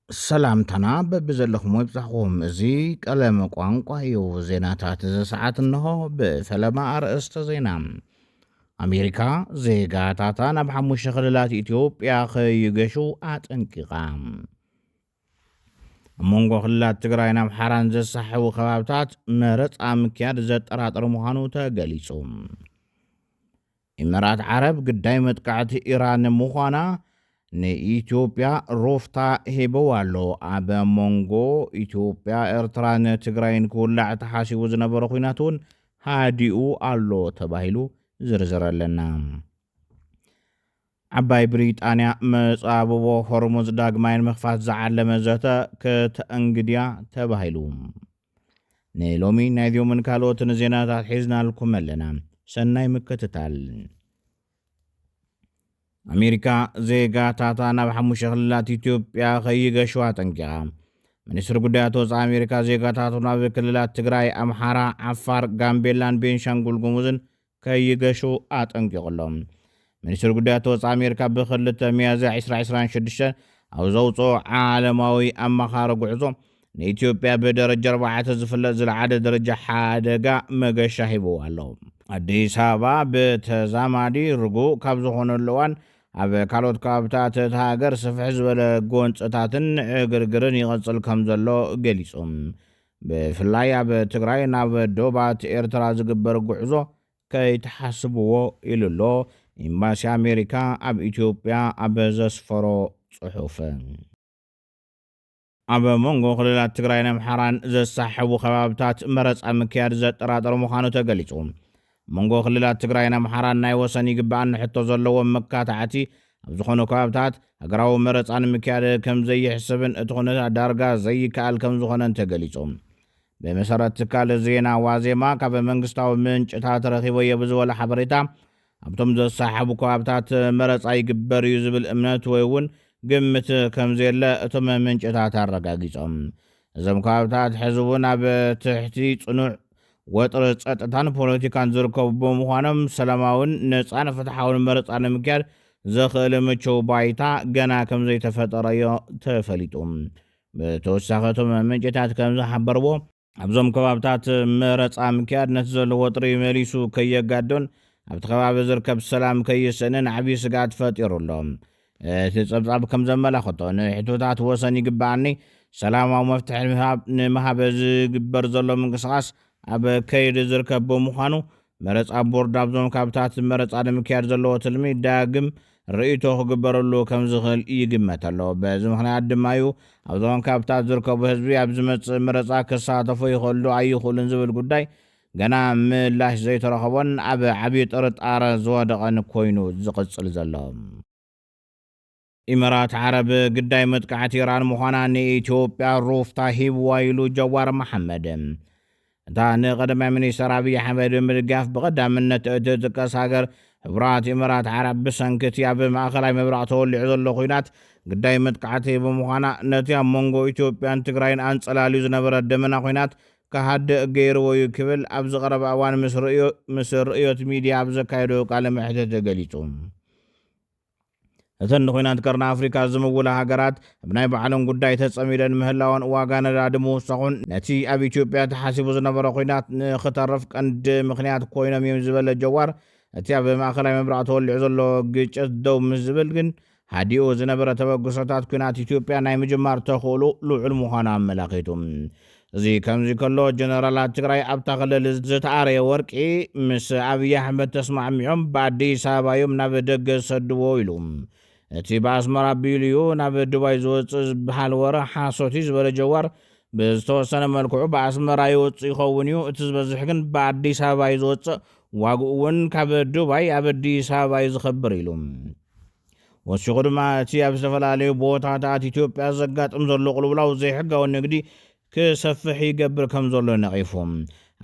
ሰላምታና በብዘለኹሞ ይብጻሕኹም። እዚ ቀለም ቋንቋ እዩ። ዜናታት እዚ ሰዓት እንሆ ብፈለማ ኣርእስተ ዜና። ኣሜሪካ ዜጋታታ ናብ ሓሙሽተ ክልላት ኢትዮጵያ ከይገሹ ኣጠንቂቓ። ኣብ መንጎ ክልላት ትግራይን ኣምሓራን ዘሳሕቡ ከባብታት መረፃ ምክያድ ዘጠራጥር ምዃኑ ተገሊፁ። ኢመራት ዓረብ ግዳይ መጥቃዕቲ ኢራን ምዃና ንኢትዮጵያ ሩፍታ ሂብዋ ኣሎ። ኣብ ሞንጎ ኢትዮጵያ፣ ኤርትራን ትግራይን ክውላዕ ተሓሲቡ ዝነበረ ኹናት እውን ሃዲኡ ኣሎ ተባሂሉ ዝርዝር ኣለና። ዓባይ ብሪጣንያ መጻብቦ ሆርሙዝ ዳግማይ ንምኽፋት ዝዓለመ ዘተ ክተእንግድያ ተባሂሉ። ንሎሚ ናይዚኦምን ካልኦትን ዜናታት ሒዝናልኩም ኣለና። ሰናይ ምክትታል። ኣሜሪካ ዜጋታታ ናብ ሓሙሽተ ክልላት ኢትዮጵያ ከይገሹ ኣጠንቂቓ። ሚኒስትሪ ጉዳያት ወፃኢ ኣሜሪካ ዜጋታቱ ናብ ክልላት ትግራይ፣ ኣምሓራ፣ ዓፋር፣ ጋምቤላን ቤንሻንጉል ጉሙዝን ከይገሹ ኣጠንቂቑ ኣሎ። ሚኒስትሪ ጉዳያት ወጻኢ ኣሜሪካ ብ ክልተ ሚያዝያ ዕስራ ዕስራን ሽዱሽተን ኣብ ዘውጽኦ ዓለማዊ ኣማኻሪ ጉዕዞ፣ ንኢትዮጵያ ብደረጃ ኣርባዕተ ዝፍለጥ ዝለዓለ ደረጃ ሓደጋ መገሻ ሂብዋ ኣሎ። ኣዲስ ኣበባ ብተዛማዲ ርጉእ ካብ ዝኾነሉ እዋን ኣብ ካልኦት ከባብታት እታ ሃገር ስፍሕ ዝበለ ጎንጽታትን ዕግርግርን ይቕጽል ከምዘሎ ገሊጹ። ብፍላይ ኣብ ትግራይ ናብ ዶባት ኤርትራ ዝግበር ጉዕዞ ከይትሓስብዎ ኢሉ'ሎ ኢምባሲ ኣሜሪካ ኣብ ኢትዮጵያ ኣብ ዘስፈሮ ጽሑፍ። ኣብ መንጎ ክልላት ትግራይን ኣምሓራን ዘሳሕቡ ከባብታት መረጻ ምክያድ ዘጠራጥር ምዃኑ ተገሊጹ። መንጎ ክልላት ትግራይን ኣምሓራን ናይ ወሰን ይግበኣኒ ሕቶ ዘለዎም መካታዕቲ ኣብ ዝኾኑ ከባብታት ሃገራዊ መረፃ ንምክያድ ከምዘይሕሰብን እቲ ኩነታት ዳርጋ ዘይከኣል ከምዝኾነን ተገሊፁ። ብመሰረት ትካል ዜና ዋዜማ ካብ መንግስታዊ ምንጭታት ረኺበዮ ብዝበሎ ሓበሬታ ኣብቶም ዘሰሓሕቡ ከባብታት መረፃ ይግበር እዩ ዝብል እምነት ወይ እውን ግምት ከምዘየለ እቶም ምንጭታት ኣረጋጊፆም። እዞም ከባብታት ሕዚ እውን ኣብ ትሕቲ ፅኑዕ ወጥሪ ፀጥታን ፖለቲካን ዝርከቡ ብምዃኖም ሰላማዊን ነፃን ፍትሓውን መረፃ ንምክያድ ዘኽእል ምቹው ባይታ ገና ከምዘይተፈጠረ እዮ ተፈሊጡ። ብተወሳኺ እቶም ምንጭታት ከምዝሓበርዎ፣ ኣብዞም ከባብታት መረፃ ምክያድ ነቲ ዘሎ ወጥሪ መሊሱ ከየጋዶን ኣብቲ ከባቢ ዝርከብ ሰላም ከይስእንን ዓብዪ ስግኣት ፈጢሩ ኣሎ። እቲ ጸብጻብ ከም ዘመላኽቶ፣ ንሕቶታት ወሰን ይግበኣኒ ሰላማዊ መፍትሒ ንምሃብ ንምሃብ ዝግበር ዘሎ ምንቅስቓስ ኣብ ከይዲ ዝርከብ ብምዃኑ፣ መረጻ ቦርድ ኣብዞም ካብታት መረጻ ንምክያድ ዘለዎ ትልሚ ዳግም ርእይቶ ክግበረሉ ከም ዝኽእል ይግመት ኣሎ። በዚ ምኽንያት ድማ እዩ ኣብዞም ካብታት ዝርከቡ ህዝቢ ኣብ ዝመጽእ መረጻ ክሳተፉ ይኽእሉ ዶ ኣይኽእሉን ዝብል ጉዳይ ገና ምላሽ ዘይተረኸቦን ኣብ ዓብዪ ጥርጣረ ዝወደቐን ኮይኑ ዝቕፅል ዘሎ። ኢመራት ዓረብ ግዳይ መጥቃዕቲ ኢራን ምዃና ንኢትዮጵያ ሩፍታ ሂብዋ ኢሉ ጀዋር መሓመድ። እታ ንቀዳማይ ሚኒስተር ኣብይ ኣሕመድ ብምድጋፍ ብቐዳምነት እትጥቀስ ሃገር ሕቡራት ኢመራት ዓረብ ብሰንኪ እቲ ኣብ ማእኸላይ ምብራቕ ተወሊዑ ዘሎ ኹናት ግዳይ መጥቃዕቲ ብምዃና ነቲ ኣብ መንጎ ኢትዮጵያን ትግራይን ኣንፀላልዩ ዝነበረ ደመና ኹናት ክሃድእ ገይርዎ'ዩ ክብል ኣብዚ ቀረባ እዋን ምስ ርእዮት ሚድያ ኣብ ዘካየዶ ቃለ መሕትት ገሊጹ። እተን ንኹናት ቀርኒ ኣፍሪካ ዝምውላ ሃገራት ኣብ ናይ ባዕለን ጉዳይ ተፀሚደን ምህላወን ዋጋ ነዳዲ ምውሳኹን ነቲ ኣብ ኢትዮጵያ ተሓሲቡ ዝነበረ ኹናት ንኽተርፍ ቀንዲ ምኽንያት ኮይኖም እዮም ዝበለ ጀዋር እቲ ኣብ ማእኸላይ ምብራቕ ተወሊዑ ዘሎ ግጭት ደው ምስ ዝብል ግን ሃዲኡ ዝነበረ ተበግሶታት ኲናት ኢትዮጵያ ናይ ምጅማር ተኽእልኡ ልዑል ምዃኑ ኣመላኺቱ። እዚ ከምዚ ከሎ ጀነራላት ትግራይ ኣብታ ክልል ዝተኣረየ ወርቂ ምስ ኣብይ ኣሕመድ ተስማዕሚዖም ብኣዲስ ኣበባ እዮም ናብ ደገ ዝሰድዎ ኢሉ። እቲ ብኣስመራ ኣቢሉ እዩ ናብ ዱባይ ዝወፅእ ዝበሃል ወረ ሓሶት እዩ ዝበለ ጀዋር፣ ብዝተወሰነ መልክዑ ብኣስመራ ይወፅእ ይኸውን እዩ፣ እቲ ዝበዝሕ ግን ብኣዲስ ኣበባ እዩ ዝወፅእ፣ ዋግኡ እውን ካብ ዱባይ ኣብ ኣዲስ ኣበባ እዩ ዝኸብር ኢሉ። ወሲኹ ድማ እቲ ኣብ ዝተፈላለዩ ቦታታት ኢትዮጵያ ዘጋጥም ዘሎ ቁልውላው ዘይሕጋዊ ንግዲ ክሰፍሕ ይገብር ከምዘሎ ነቒፉ።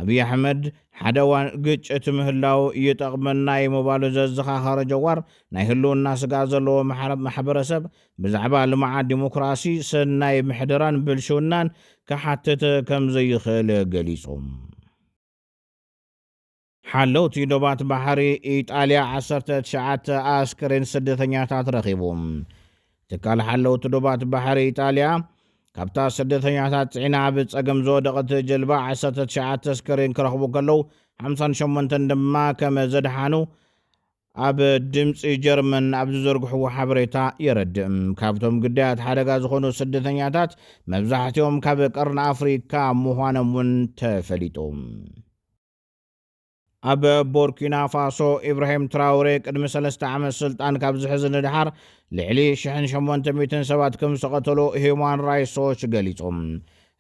ኣብይ ኣሕመድ ሓደ እዋን ግጭት ምህላው ይጠቕመና እዩ ምባሉ ዘዘኻኸረ ጀዋር፣ ናይ ህልውና ስግኣት ዘለዎ ማሕበረሰብ ብዛዕባ ልምዓት፣ ዲሞክራሲ፣ ሰናይ ምሕደራን ብልሽውናን ክሓትት ከምዘይኽእል ገሊፁ። ሓለውቲ ዶባት ባሕሪ ኢጣልያ ዓሰርተ ትሽዓተ ኣስከሬን ስደተኛታት ረኺቡ። ትካል ሓለውቲ ዶባት ባሕሪ ኢጣልያ ካብታ ስደተኛታት ጽዒና ኣብ ጸገም ዝወደቐት ጀልባ ዓሰርተ ትሽዓተ ኣስከሬን ክረኽቡ ከለዉ ሓምሳን ሸሞንተን ድማ ከም ዘድሓኑ ኣብ ድምፂ ጀርመን ኣብ ዝዘርግሕዎ ሓበሬታ የረድእ። ካብቶም ግዳያት ሓደጋ ዝኾኑ ስደተኛታት መብዛሕትኦም ካብ ቀርኒ ኣፍሪካ ምዃኖም እውን ተፈሊጡ። ኣብ ቦርኪናፋሶ ኢብራሂም ትራውሬ ቅድሚ ሰለስተ ዓመት ስልጣን ካብ ዝሕዝ ንደሓር ልዕሊ ሽሕን ሸሞንተ ሚእትን ሰባት ከም ዝተቐተሉ ሂዩማን ራይትስ ዎች ገሊጹ።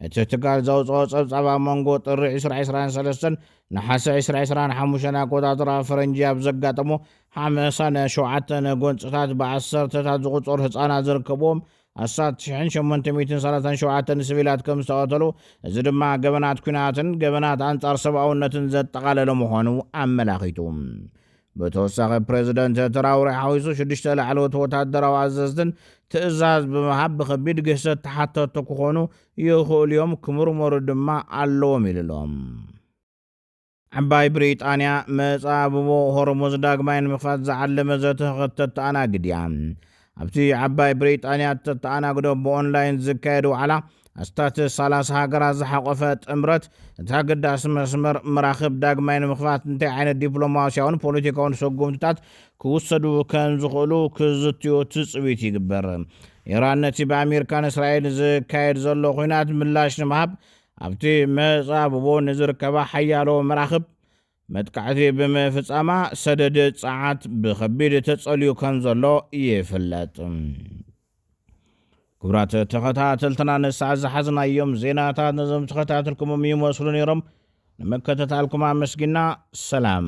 እቲ ትካል ዘውጽኦ ጸብጻብ ኣብ መንጎ ጥሪ ዕስራ ዕስራን ሰለስተን ነሓሰ ዕስራ ዕስራን ሓሙሽተን ኣቆጻጽራ ፈረንጂ ኣብ ዘጋጠሙ ሓምሳን ሸውዓተን ጎንጽታት ብዓሰርተታት ዝቑጸሩ ህጻናት ዝርከብዎም ኣስታት ሽሕን ሸሞንተ ሚእትን ሰላሳን ሸውዓተን ስቪላት ከም ዝተቐተሉ፣ እዚ ድማ ገበናት ኲናትን ገበናት ኣንጻር ሰብኣውነትን ዘጠቓለለ ምዃኑ ኣመላኺቱ። ብተወሳኺ ፕረዚደንት ትራውሬ ሓዊሱ ሽዱሽተ ላዕለዎት ወታደራዊ ኣዘዝትን ትእዛዝ ብምሃብ ብኸቢድ ግህሰት ተሓተትቲ ክኾኑ ይኽእሉ'ዮም፣ ክምርመሩ ድማ ኣለዎም ኢሉ'ሎ። ዓባይ ብሪጣንያ፣ መጻብቦ ሆርሙዝ ዳግማይ ንምኽፋት ዝዓለመ ዘተ ከተተኣናግድ እያ። ኣብቲ ዓባይ ብሪጣንያ እተተኣናግዶ ብኦንላይን ዝካየድ ዋዕላ፣ ኣስታት ሰላሳ ሃገራት ዝሓቖፈ ጥምረት፣ እቲ ኣገዳሲ መስመር መራኽብ ዳግማይ ንምኽፋት እንታይ ዓይነት ዲፕሎማስያውን ፖለቲካውን ሰጉምትታት ክውሰዱ ከም ዝኽእሉ ክዝትዩ ትጽቢት ይግበር። ኢራን ነቲ ብኣሜሪካን እስራኤልን ዝካየድ ዘሎ ኲናት ምላሽ ንምሃብ ኣብቲ መጻብቦ ንዝርከባ ሓያሎ መራኽብ መጥቃዕቲ ብምፍጻማ ሰደድ ጸዓት ብኸቢድ ተጸልዩ ከምዘሎ ይፍለጥ። ክቡራት ተኸታተልትና ንሰዓት ዝሓዝናዮም ዜናታት ነዞም ተኸታተልኩሞም ይመስሉ ነይሮም። ንምክትታልኩም ኣመስጊና ሰላም።